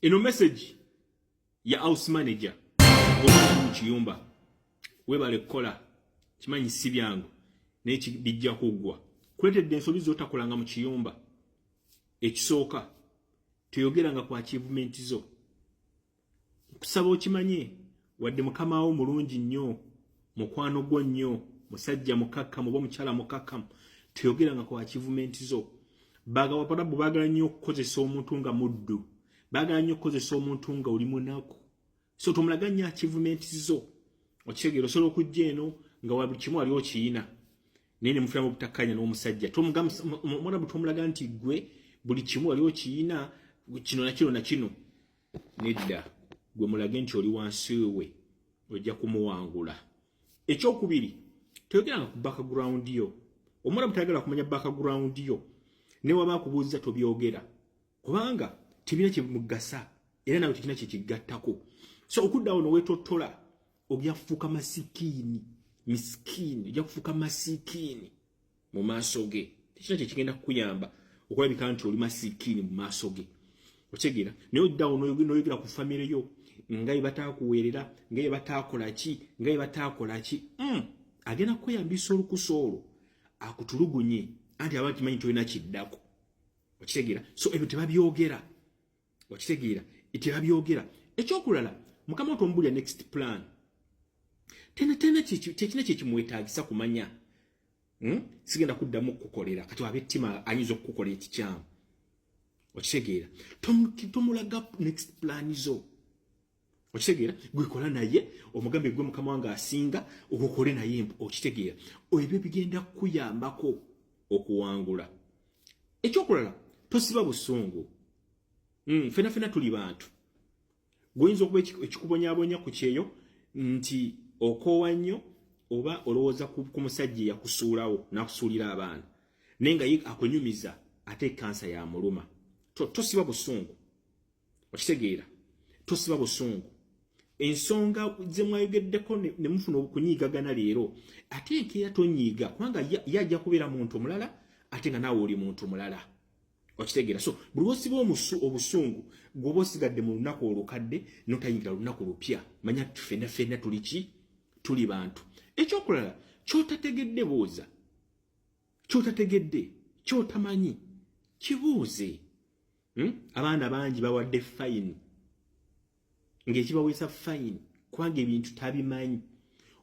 Eno message ya house manager omu kiyumba webale kukola kimanyi si byangu naye bijja kuggwa kuleetedde ensobi zotakolanga mu kiyumba ekisooka teyogeranga ku achievement zo nkusaba okimanye wadde mukama wo mulungi nnyo mukwano gwo nnyo musajja mukakkamu oba omukyala mukakkamu teyogeranga ku akivumenti zo bagawaparabu bagala nnyo okukozesa omuntu nga muddu bagala nnyo okukozesa omuntu nga oli munaku so tomulaga nnyo akivumenti zo okitegeera osobola okujja eno nga wa buli kimu wali okiyina naye ne mufulamu obutakkanya n'omusajja omwana bwe tomulaga nti gwe buli kimu wali okiyina kino nakino nakino nedda gwe mulage nti oli wansi we ojja kumuwangula ekyokubiri toyogeranga ku background yo omwana mutayagala kumanya background yo newaba akubuuziza tobyogera kubanga tebina kyemugasa era nawe tekina kyekigattako so okuddawo nowetotola obyafuuka masikiini misikiini ojja kufuuka masikiini mu maaso ge tekina kyekigenda kukuyamba okulabika nti oli masikiini mu maaso ge otegeera naye oddawo noyogera ku famire yo nga yebatakuweerera nga yebatakola ki nga yebatakola ki hmm. agenda kukweyambisa olukusa olwo akutulugunye anti aba kimanyi tolina kiddako okitegeera so ebyo tebabyogera okitegeera tebabyogera ekyokulala mukama wo tomubulira next plan tena tena kyekina kyekimwetagisa kumanya hmm? sigenda kuddamu okukukolera kati waba ettima ayinza okukukola ekikyamu okitegeera tomulaga next plan zo okitegeera gwekola naye omugambe gwe mukama wange asinga okukole naye okitegeera ebyo bigenda kukuyambako okuwangula ekyokulala tosiba busungu mm, fena fena tuli bantu gwoyinza okuba ekikubonyabonya ku kyeyo nti okoowa nnyo oba olowooza ku musajja eyakusuulawo nakusuulira abaana naye nga ye akunyumiza ate ekansa yamuluma tosiba busungu okitegeera tosiba busungu ensonga gye mwayogeddeko ne mufuna okunyiigagana leero ate enkeera tonyiiga kubanga ye ajja kubeera muntu omulala ate nga naawe oli muntu mulala okitegeera so buli wosiba omusu obusungu gwoba osigadde mu lunaku olukadde notayingira lunaku lupya manya tufena fena tuli ki tuli bantu ekyokulala kyotategedde buuza kyotategedde kyotamanyi kibuuze hmm? abaana bangi bawadde fayini ng'ekibaweesa fayini kubanga ebintu tabimanyi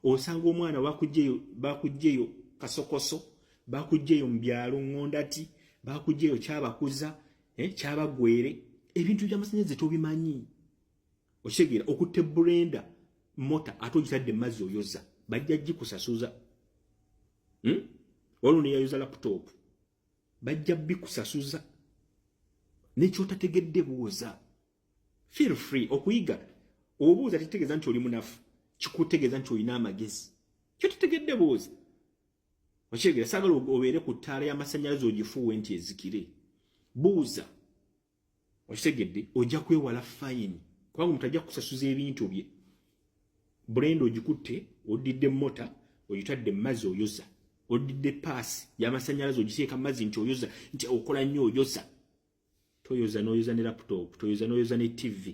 osanga omwana bakugyeyo bakugyeyo kasokoso bakugyeyo mu byalo ngondati bakugyeyo kyabakuza eh, kyabagwere ebintu by'amasannyalaze tobimanyi okitegeera okutte burenda mota ate ogitadde mu mazzi oyoza bajja gikusasuza hmm? waliwo neyayoza laputopu bajja bikusasuza nekyotategedde buuza feel free okuyiga obuuza tetegeeza nti oli munafu kikutegeeza nti olina amagezi kyotategedde buuza okyegera sagala obeere ku ttaala y'amasannyalaze ogifuuwe nti ezikire buuza okitegedde ojja kwewala fayini kubanga omuntu ajja kusasuza ebintu bye brenda ogikutte oddidde mota ogitadde mazi oyoza oddidde paasi yamasanyalaze ogiteeka mazi nti oyoza nti okola nnyo oyoza toyoza noyoza ne laputopu toyoza noyoza ne tivi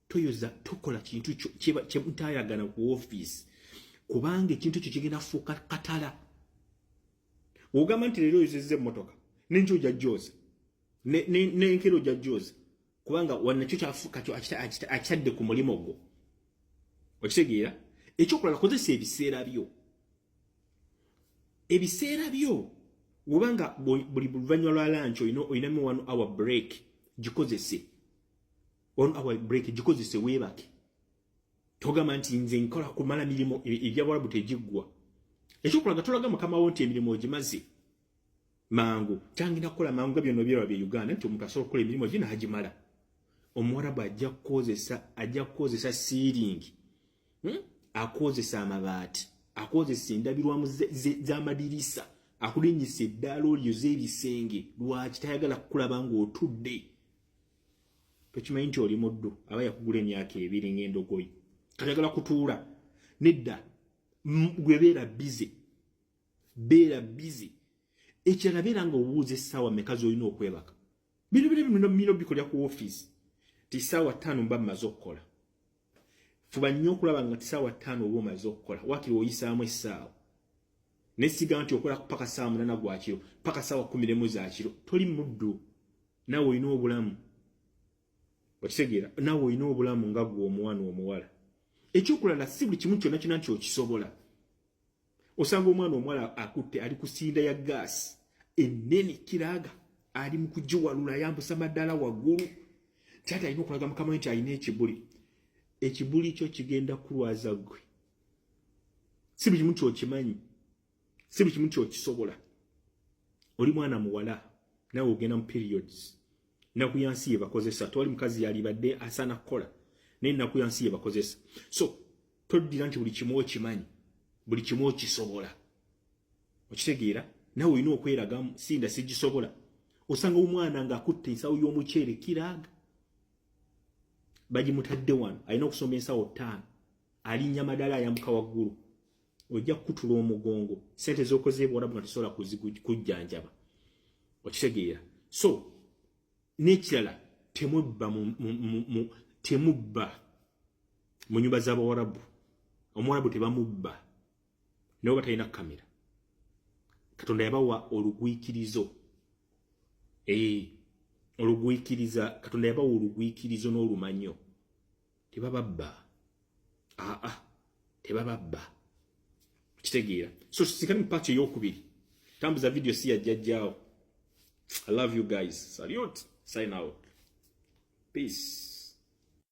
toyoza tokola kintu kyemutayagana ku office kubanga ekintu ekyo kigenda kufuuka katala ogamba nti leero oyozezza emmotoka nenjo oja joza nenkero oja joza kubanga wanakyo kyafuuka kyo akitadde ku mulimu gwo okitegeera ekyokulala kozesa ebiseera byo ebiseera byo wobanga buli luvanyuma lwa lanki olinamu one hour break gikozese on our break gikozese weebake togamba nti nze nkola kumala mirimu e, ebyabwalabu tegiggwa ekyokulaga tolaga mukama wo nti emirimu ogimaze mangu kyangenda kukola mangu nga byonna byerwa bye uganda nti omuntu asobola okukola emirimu gye n'agimala omuwarabu ajja kukozesa ajja kukozesa siiringi hmm? akozesa amabaati akozesa endabirwamu z'amadirisa akulinyisa eddaala olyo z'ebisenge lwaki tayagala kukulaba ng'otudde tokimanyi nti oli muddu aba yakugula emyaka ebiri ng'endogoyi kayagala kutuula nedda gwe beera bize beera bize ekirala beera nga obuuza essaawa meka z'olina okwebaka bino bino bino bikolera ku ofiisi ti ssaawa ttaano mba mmaze okukola fuba nnyo okulaba nga tisaawa ttaano oba omaze okukola wakiri oyisaamu essaawa nesiga nti okola paka saawa munana gwa kiro paka saawa kumi nemu za kiro toli muddu naawe olina obulamu okitegeera naawe olina obulamu nga gwe omuwana omuwala ekyokulala si buli kimu kyonna kyona nti okisobola osanga omwana omwala akutte ali kusinda ya gaasi ennene kiraga ali mu kugiwalula yambusa maddala waggulu kyati alina okulaga mukama we nti alina ekibuli ekibuli kyo kigenda kulwaza gwe si buli kimu kyokimanyi si buli kimu kyokisobola oli mwana muwala nawe ogenda mu periods naku yansi yebakozesa tewali mukazi yalibadde asaana kukola naye naku yansi yebakozesa so toddira nti buli kimu okimanyi buli kimu okisobola okitegeera nawe olina okweragamu sinda sigisobola osanga omwana ng'akutte ensawo y'omuceere kiraaga bagimutadde wano alina okusoma ensawo ttaano alinnya madala ayambuka waggulu ojja kukutula omugongo sente z'okoze ebwarabu nga tosobola kujjanjaba okitegeera so n'ekirala temubba temubba mu nyumba z'abawarabu omuwarabu tebamubba nabo batalina kamera katonda yabawa olugwikirizo ee eh, olugwikiriza katonda yabawa olugwikirizo n'olumanyo tebababba aa ah, ah, tebababba kitegeera so sikali mu paaki ey'okubiri tambuza vidiyo si yajjajjaawo i love you guys salute sign out peace